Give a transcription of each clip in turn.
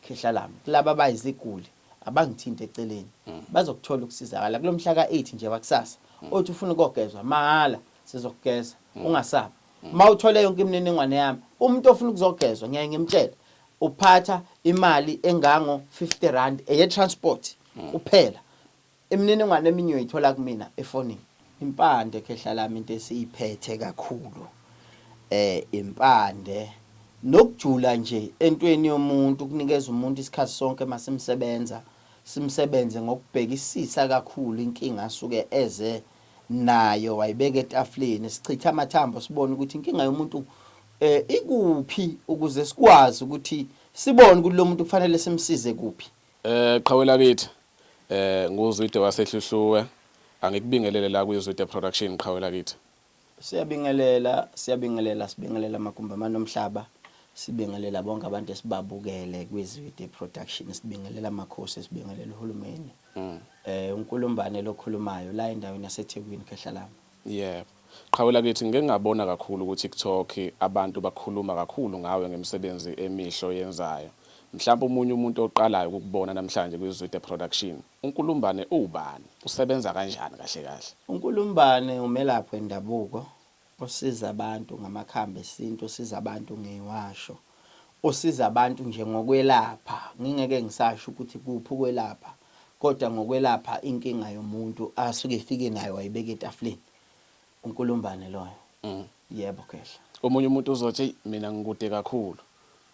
Khehla lami, kulaba abayiziguli abangithinti eceleni bazokuthola ukusizakala kulo mhla ka-8 nje wakusasa. Othi ufuna ukogezwa, mahhala sizokugeza ungasabi. Uma uthole yonke imininingwane yami, umuntu ofuna ukuzogezwa ngiyaye ngimtshele uphatha imali engango-50 randi eye-transport kuphela. Imininingwane eminye uyoyithola kumina efonini. Impande khehla lami into esiyiphethe kakhulu impande nokujula nje entweni yomuntu ukunikeza umuntu isikhathi sonke masimsebenza simsebenze ngokubhekisisa kakhulu inkinga asuke eze nayo wayibeka etafuleni sichitha amathambo sibone ukuthi inkinga yomuntu eh ikuphi ukuze sikwazi ukuthi sibone ukuthi lo muntu kufanele simsize kuphi Eh qhawe lakithi eh nguzwide wasehluhluwe angikubingelele la kuyizwide production qhawe lakithi. Siyabingelela siyabingelela sibingelela amagumbamane omhlaba sibingelela bonke abantu esibabukele kwizwide production sibingelela amakhosi sibingelela uhulumeni mm. eh unkulumbane lokhulumayo la endaweni yaseThekwini khehlalama Yebo. Qhawe lakithi ngike ngabona kakhulu ku TikTok abantu bakhuluma kakhulu ngawe ngemisebenzi emihle oyenzayo. Mhlampe omunye umuntu oqalayo ukukubona namhlanje kwi Zwide Production. UNkulumbane uwubani? Usebenza kanjani kahle kahle? UNkulumbane umelaphi wendabuko osiza abantu ngamakhambi esintu, usiza abantu ngeywasho, usiza abantu nje ngokwelapha. Ngingeke ngisasho ukuthi kuphi ukwelapha kodwa ngokwelapha inkinga yomuntu asuke efike nayo wayibeka etafuleni. Unkulumbane loyo. Yebo Khehla. Omunye umuntu uzothi eyi mina ngikude kakhulu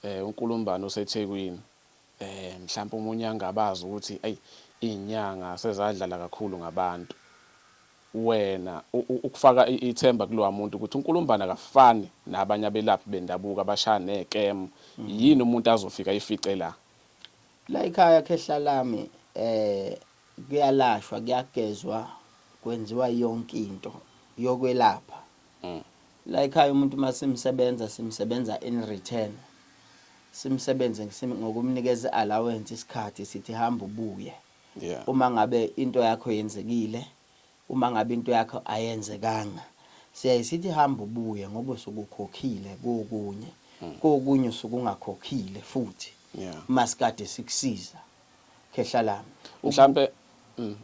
um uNkulumbane useThekwini um mhlampe omunye angabaze ukuthi ayi izinyanga sezadlala kakhulu ngabantu. Wena ukufaka ithemba kulowa muntu ukuthi uNkulumbane akafani nabanye abelaphi bendabuko abashaya nekem yini umuntu azofika ayifice la. Layikhaya khehla lami kuyalashwa kuyagezwa kwenziwa yonke into yokwelapha layikhaya umuntu masimsebenza simsebenza in return simsebenze ngokumnikeza i allowance isikhathi sithi hamba ubuye uma ngabe into yakho yenzekile Uma ngabe into yakho ayenzekanga siyaye sithi hamba ubuye ngoba usuke ukhokhile kokunye. Kokunye usuke ungakhokhile futhi uma sikade sikusiza. Khehla lami. Mhlampe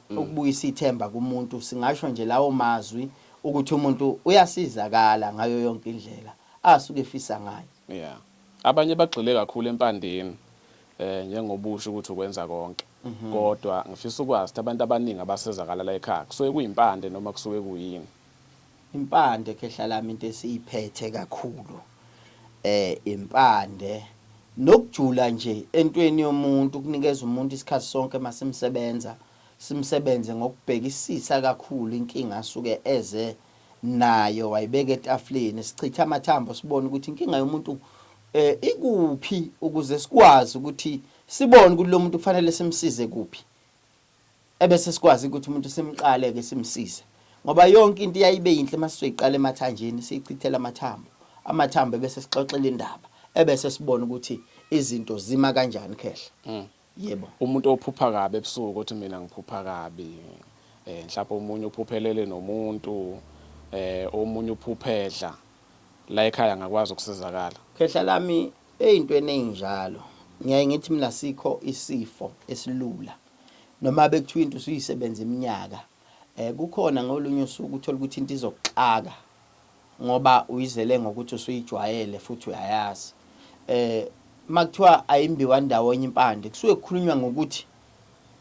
ukubuyisa ithemba kumuntu singasho nje lawo mazwi ukuthi umuntu uyasizakala ngayo yonke indlela asuke efisa ngayo. Yeah. Abanye bagxile kakhulu empandeni eh njengoba usho ukuthi ukwenza konke mhm. kodwa ngifisa ukwazi ukuthi abantu abaningi abasizakala la ekhaya kusuke kuyimpande noma kusuke kuyini impande khehla lami into esiyiphethe kakhulu eh impande nokujula nje entweni yomuntu kunikeza umuntu isikhathi sonke masimsebenza simsebenze ngokubhekisisa kakhulu inkinga asuke eze nayo wayibeka etafuleni sichitha amathambo sibone ukuthi inkinga yomuntu Eh ikuphi ukuze sikwazi ukuthi sibone ukuthi lo muntu kufanele simsize kuphi. Ebese sikwazi ukuthi umuntu simqale ke simsize. Ngoba yonke into iyayibe yinhle uma sizoyiqala emathanjeni siyichithela amathambo. Amathambo ebese sixoxela indaba ebese sibona ukuthi izinto zima kanjani khehla. Mm. Yebo. Umuntu ophupha kabi ebusuku othi mina ngiphupha kabi. Eh mhlawumbe omunye uphuphelele nomuntu eh omunye uphuphedla la ekhaya ngakwazi ukusizakala. Khehla lami eyintweni eyinjalo ngiyaye ngithi mina sikho isifo esilula noma bekuthiwa into usuyisebenza iminyaka Kukhona ngolunye usuku uthole ukuthi into izokuxaka ngoba uyizele ngokuthi usuyijwayele futhi uyayazi. Uma kuthiwa ayimbiwa ndawonye impande, kusuke kukhulunywa ngokuthi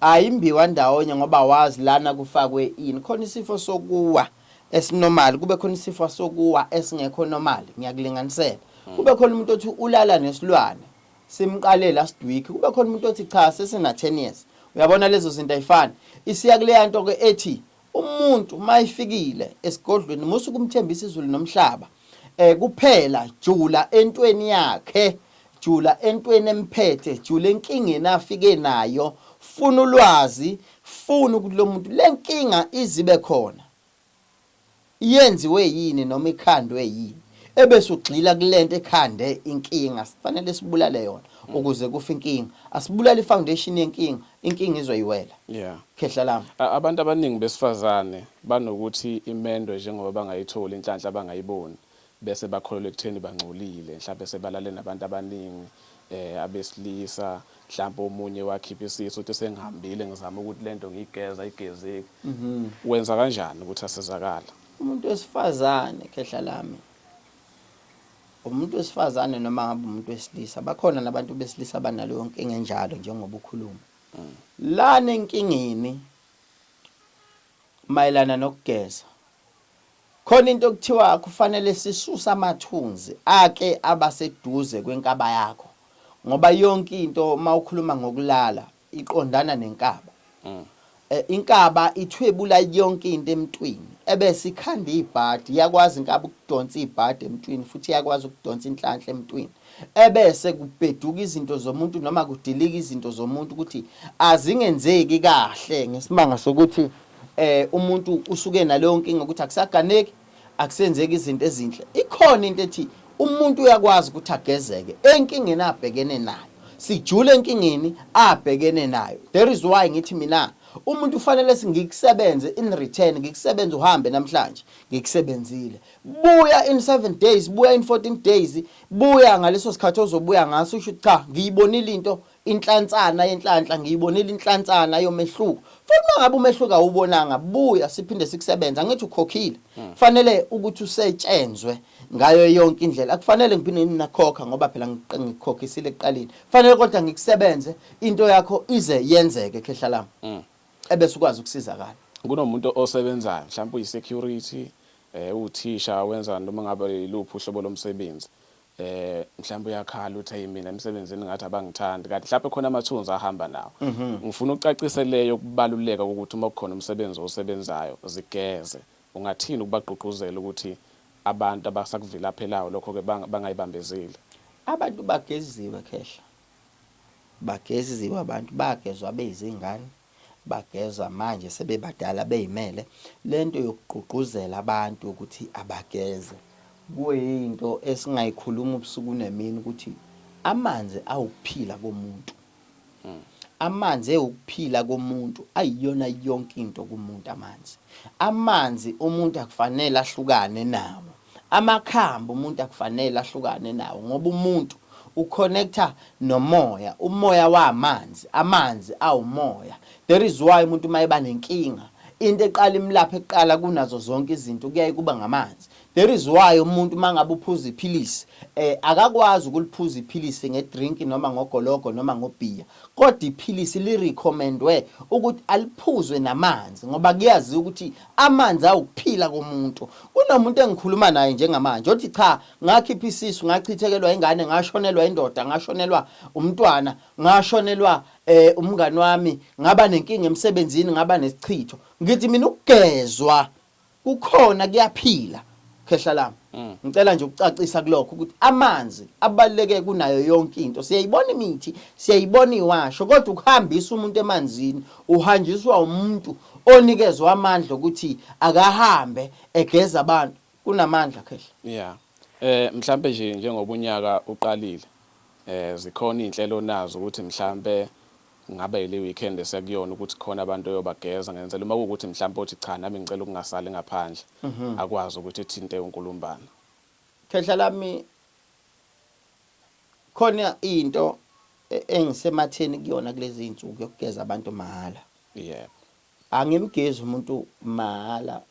ayimbiwa ndawonye ngoba wazi lana kufakwe ini. Khona isifo sokuwa esinormal, kube khona isifo sokuwa esingekho normal, ngiyakulinganisela. Kube khona umuntu othi ulala nesilwane, simqale last week kube khona umuntu othi cha sesina 10 years uyabona lezo zinto ayifani isiya kuleya nto ke ethi umuntu mayifikile esigodlweni musu kumthembisa izulu nomhlaba eh kuphela jula entweni yakhe jula entweni emphethe jula enkingeni afike nayo funa ulwazi funa ukuthi lo muntu lenkinga izibe khona Yenziwe yini noma ikhandwe yini ebese ugxila kulento ekhande inkinga sfanele sibulale yona ukuze kufe inkinga asibulale i foundation yenkinga inkinga izoyiwela khehla lami. Abantu abaningi besifazane banokuthi imendwe njengoba bangayitholi inhlanhla bangayiboni bese bakholelwa ekutheni bangcolile mhlampe sebalale nabantu abaningi eh abesilisa mhlampe omunye wakhipha isisu uthi sengihambile ngizama ukuthi lento ngiyigeza igezeki mm -hmm. wenza kanjani ukuthi asizakala umuntu wesifazane khehla lami umuntu wesifazane noma ngabe umuntu wesilisa bakhona nabantu besilisa banalo yonke engenjalo njengoba ukhuluma mm. lana enkingeni mayelana nokugeza Khona into okuthiwa kufanele sisuse amathunzi ake aba seduze kwenkaba yakho ngoba yonke into mawukhuluma ngokulala iqondana nenkaba. Inkaba ithwebula yonke into emntwini ebese ikhanda ibhadi, iyakwazi inkaba ukudonsa ibhadi emntwini futhi iyakwazi ukudonsa inhlanhla emntwini ebese kubheduka izinto zomuntu noma kudilika izinto zomuntu ukuthi azingenzeki kahle ngesibanga sokuthi eh umuntu usuke naleyo nkinga ukuthi akusaganeki akusenzeki izinto ezinhle ikhona into ethi umuntu uyakwazi ukuthi agezeke enkingeni abhekene nayo sijule enkingeni abhekene nayo there is why ngithi mina umuntu ufanele singikusebenze in return ngikusebenze uhambe namhlanje ngikusebenzile buya in 7 days buya in 14 days buya ngaleso sikhathi ozobuya ngaso usho cha ngiyibonile into Inhlansana yenhlanhla ngiyibonile inhlansana yomehluko futhi uma ngabe umehluko awubonanga buya siphinde sikusebenza ngithi ukhokhile kufanele ukuthi usetshenzwe ngayo yonke indlela akufanele ngiphinde nginakhokha ngoba phela ngikhokhisile ekuqaleni kufanele kodwa ngikusebenze into yakho ize yenzeke khehla lami mm. ebese ukwazi ukusizakala kunomuntu osebenzayo mhlawumbe uyi-security um uthisha wenza noma ngabe iluphi uhlobo lomsebenzi eh mhlawumbe uyakhala uthi hey mina emsebenzini ngathi abangithandi kanti mhlawumbe khona amathunzi ahamba nawo mhm. ngifuna ucacise leyo ukubaluleka ukuthi uma kukhona umsebenzi osebenzayo zigeze ungathini ukubagqugquzela ukuthi abantu abasakuvilaphelayo lokho ke bangayibambezeli abantu bageziwe khehla bageziwe abantu bagezwa bezingane bageza manje sebebadala beyimele lento yokugqugquzela abantu ukuthi abageze kuyinto esingayikhuluma ubusuku nemini ukuthi amanzi awukuphila komuntu hmm. amanzi ewukuphila komuntu ayiyona yonke into kumuntu amanzi amanzi umuntu akufanele ahlukane nawo Amakhambi umuntu akufanele ahlukane nawo ngoba umuntu uconnecta nomoya, umoya wamanzi, amanzi awumoya. That is why umuntu uma eba nenkinga into eqala imlaphe kuqala kunazo zonke izinto kuyaye kuba ngamanzi. That is why umuntu uma ngabe uphuza iphilisi eh akakwazi ukuliphuza iphilisi ngedrink noma ngogologo noma ngobhiya. Kodwa iphilisi li recommendwe ukuthi aliphuzwe namanzi ngoba kuyaziwa ukuthi amanzi awukuphila komuntu. Kunomuntu engikhuluma naye njengamanje othi cha ngakhipha isisu ngachithekelwa ingane ngashonelwa indoda ngashonelwa umntwana ngashonelwa eh, umngani wami ngaba nenkinga emsebenzini ngaba nesichitho. Ngithi mina ukugezwa Kukhona kuyaphila. Khehla lami. Ngicela nje ukucacisa kulokho ukuthi amanzi abaluleke kunayo yonke into. Siyayibona imithi, siyayibona iwasho kodwa ukuhambisa umuntu emanzini uhanjiswa umuntu onikezwe amandla ukuthi akahambe egeza abantu. Kunamandla Khehla. Yeah. Eh mhlambe nje njengoba unyaka uqalile eh zikhona izinhlelo onazo ukuthi mhlambe Ngabe yile weekend esekuyona ukuthi khona abantu oyobageza ngenzela uma kuwukuthi mhlampe othi cha nami ngicela ukungasali ngaphandle akwazi ukuthi ethinte uNkulumbana. Khehla lami khona into engisematheni kuyona kulezi iy'nsuku yokugeza abantu mahhala. Yebo. Angimgezi umuntu mahhala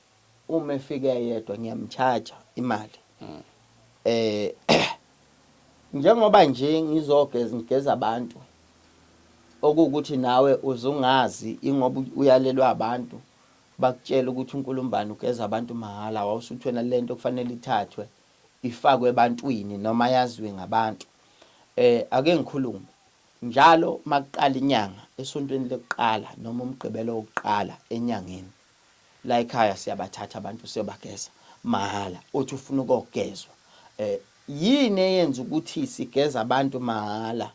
uma efika eyedwa ngiyamcharger imali eh njengoba nje ngizogeza ngigeza abantu okuwukuthi nawe uzungazi ingoba uyalelwa abantu bakutshela ukuthi uNkulumbani ugeza abantu mahhala wawusuthwena lento kufanele ithathwe ifakwe ebantwini noma yaziwe ngabantu eh ake ngikhulume Njalo uma kuqala inyanga, esontweni lokuqala noma uMgqibelo wokuqala enyangeni, la ekhaya siyabathatha abantu siyobageza mahhala. Uthi ufuna ukogezwa. Eh, yini eyenza ukuthi sigeza abantu mahhala?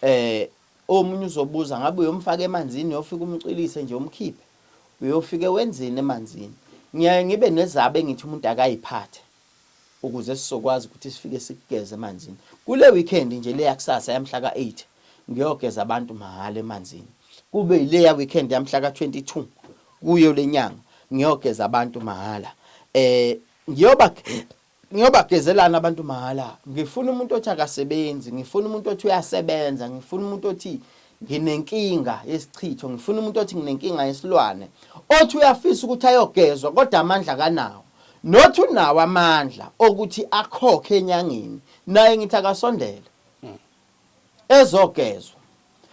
Eh, omunye uzobuza ngabe uyomfaka emanzini, uyofika umcwilise nje umkhiphe. Uyofike wenzeni emanzini? Ngiyaye ngibe nezaba engithi umuntu akayiphathe. ukuze sizokwazi ukuthi sifike sikugeze emanzini. Kule weekend nje le yakusasa yamhla ka-8 ngiyogeza abantu mahhala emanzini. Kube yile ya weekend yamhla ka-22 kuyo le nyanga ngiyogeza abantu mahhala. Eh ngiyoba ngiyobagezelana abantu mahhala. Ngifuna umuntu othi akasebenzi, ngifuna umuntu othi uyasebenza, ngifuna umuntu othi Nginenkinga yesichitho ngifuna umuntu othi nginenkinga yesilwane othi uyafisa ukuthi ayogezwa kodwa amandla akanawo not unawo amandla okuthi akhokhe enyangeni naye ngithi akasondele ezogezwa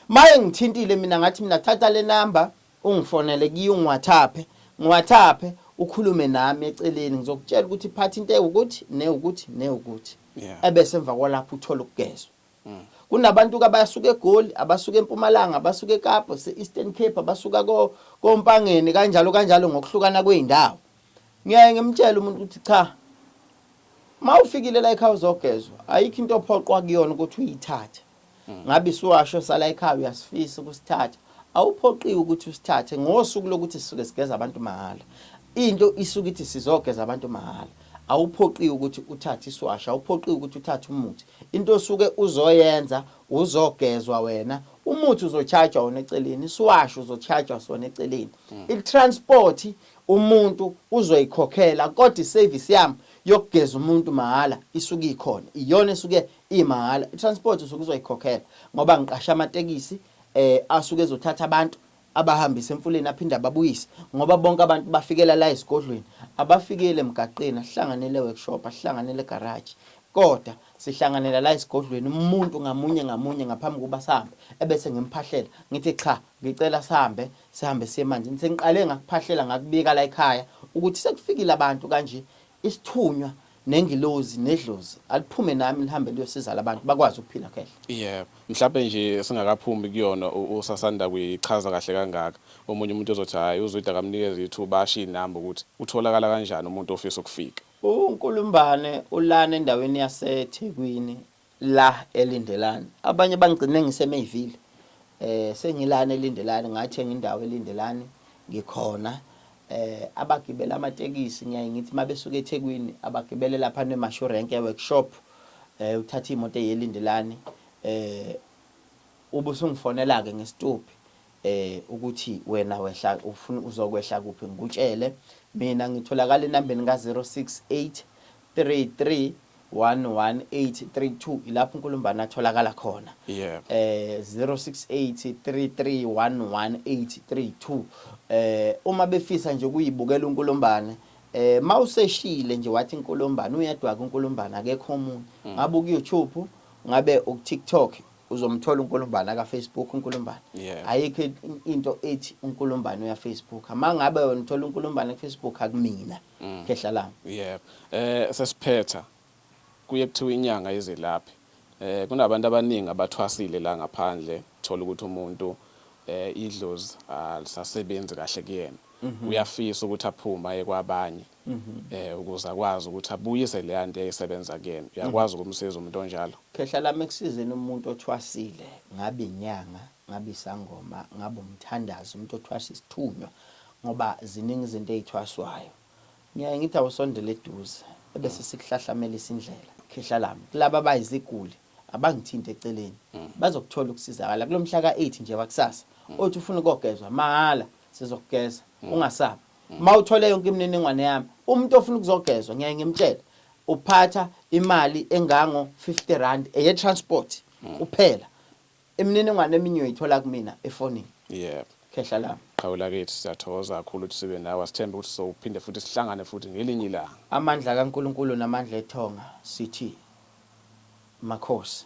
maye ngithintile mina ngathi mina thatha le number ungifonele kiyo ngiwathaphe ngiwathaphe ukhulume nami eceleni ngizokutshela ukuthi phatha into ewukuthi newukuthi newukuthi ebese emva kwalapho uthola ukugezwa Mm. Kunabantu ke abasuka eGoli, abasuka eMpumalanga, abasuka eKapa, se-Eastern Cape, abasuka koMpangeni kanjalo kanjalo ngokuhlukana kwey'ndawo. Ngiyaye ngimtshele umuntu ukuthi cha, uma ufikile la ekhaya uzogezwa, ayikho into ophoqwa kuyona ukuthi uyithathe. Mm. Ngabe isiwasho sala ekhaya uyasifisa ukusithatha. Awuphoqiwe ukuthi usithathe ngosuku lokuthi sisuke sigeza abantu mahhala. Into isuke ithi sizogeza abantu mahhala. Awuphoqiwe ukuthi uthathe iswashi, awuphoqiwe ukuthi uthathe umuthi. Into osuke uzoyenza uzogezwa wena, umuthi uzochajwa wona eceleni, iswashi uzochajwa sona eceleni. Hmm. I-transport umuntu uzoyikhokhela kodwa i-service yami yokugeza umuntu mahhala isuke ikhona. Iyona esuke imahhala. I-transport usuke uzoyikhokhela ngoba ngiqasha amatekisi eh asuke ezothatha abantu abahambise emfuleni aphinde ababuyise ngoba bonke abantu bafikela la esigodlweni abafikeli emgaqeni asihlanganele workshop asihlanganele garage kodwa sihlanganela la esigodlweni umuntu ngamunye ngamunye ngaphambi kuba sihambe ebese ngimphahlela ngithi cha ngicela sihambe sihambe siye manje sengiqale ngakuphahlela ngakubika la ekhaya ukuthi sekufikile abantu kanje Isithunywa nengilozi nedlozi aliphume nami lihambe liyosiza labantu bakwazi ukuphila khehla. Yebo. Mhlampe nje singakaphumi kuyona u usasanda kuyichaza kahle kangaka. Omunye umuntu uzothi hhayi uZwide akamnikeze ithuba asho iy'namba ukuthi utholakala kanjani umuntu ofisa ukufika. UNkulumbane ulana endaweni yaseThekwini la elindelani abanye bangigcine ngisemayville eh sengilana elindelani ngathenga indawo elindelani ngikhona eh abagibela amatekisi ngiyaye ngithi mabesuka eThekwini abagibele lapha neMashu Rank workshop eh uthatha imoto eyelindelani eh ubusungifonela ke ngesituphi eh ukuthi wena wehla ufuna uzokwehla kuphi ngikutshele mina ngitholakala enambeni ka 068 331182 ilapho uNkulumbana atholakala khona yeah. eh 0683311832 eh uma befisa nje kuyibukela uNkulumbane eh mawuseshile nje wathi inkulumbane uyedwa ke uNkulumbane akekho omunye mm. ngabe ku YouTube ngabe ku TikTok uzomthola uNkulumbane ka Facebook uNkulumbane yeah. ayikho into ethi uNkulumbane uya Facebook amangabe wena uthola uNkulumbane ku Facebook akumina mm. khehla lami yebo eh sesiphetha kuye kuthiwa inyanga yezelaphi eh kunabantu abaningi abathwasile la ngaphandle thola ukuthi umuntu eh idlozi alisasebenzi kahle kuyena mhm. uyafisa ukuthi aphume aye kwabanye mhm. eh ukuze akwazi ukuthi abuyise le yanto eyisebenza kuyena uyakwazi mhm. ukumsiza umuntu onjalo khehla lami ekusizeni umuntu othwasile ngabe inyanga Ngaba isangoma, ngaba umthandazi, umuntu othwasa isithunywa ngoba ziningi izinto ezithwaswayo. Ngiyaye ngithi awusondele eduze ebese sikuhlahlamelisa indlela. Khehla lami, kulaba abayiziguli abangithinte eceleni, bazokuthola ukusizakala kulo mhla ka-8 nje wakusasa. Othi ufuna ukogezwa, mahhala sizokugeza ungasabi. Uma uthole yonke imininingwane yami, umuntu ofuna ukuzogezwa ngiyaye ngimtshele uphatha imali engango-50 randi eye-transport kuphela. Imininingwane eminye uyoyithola kumina efonini. Yebo. Khehla lami. Qhawe lakithi siyathokoza kakhulu ukuthi sibe nawe asithembe ukuthi sophinde futhi sihlangane futhi ngelinye ilanga. Amandla kaNkulunkulu namandla ethonga sithi Makhosi.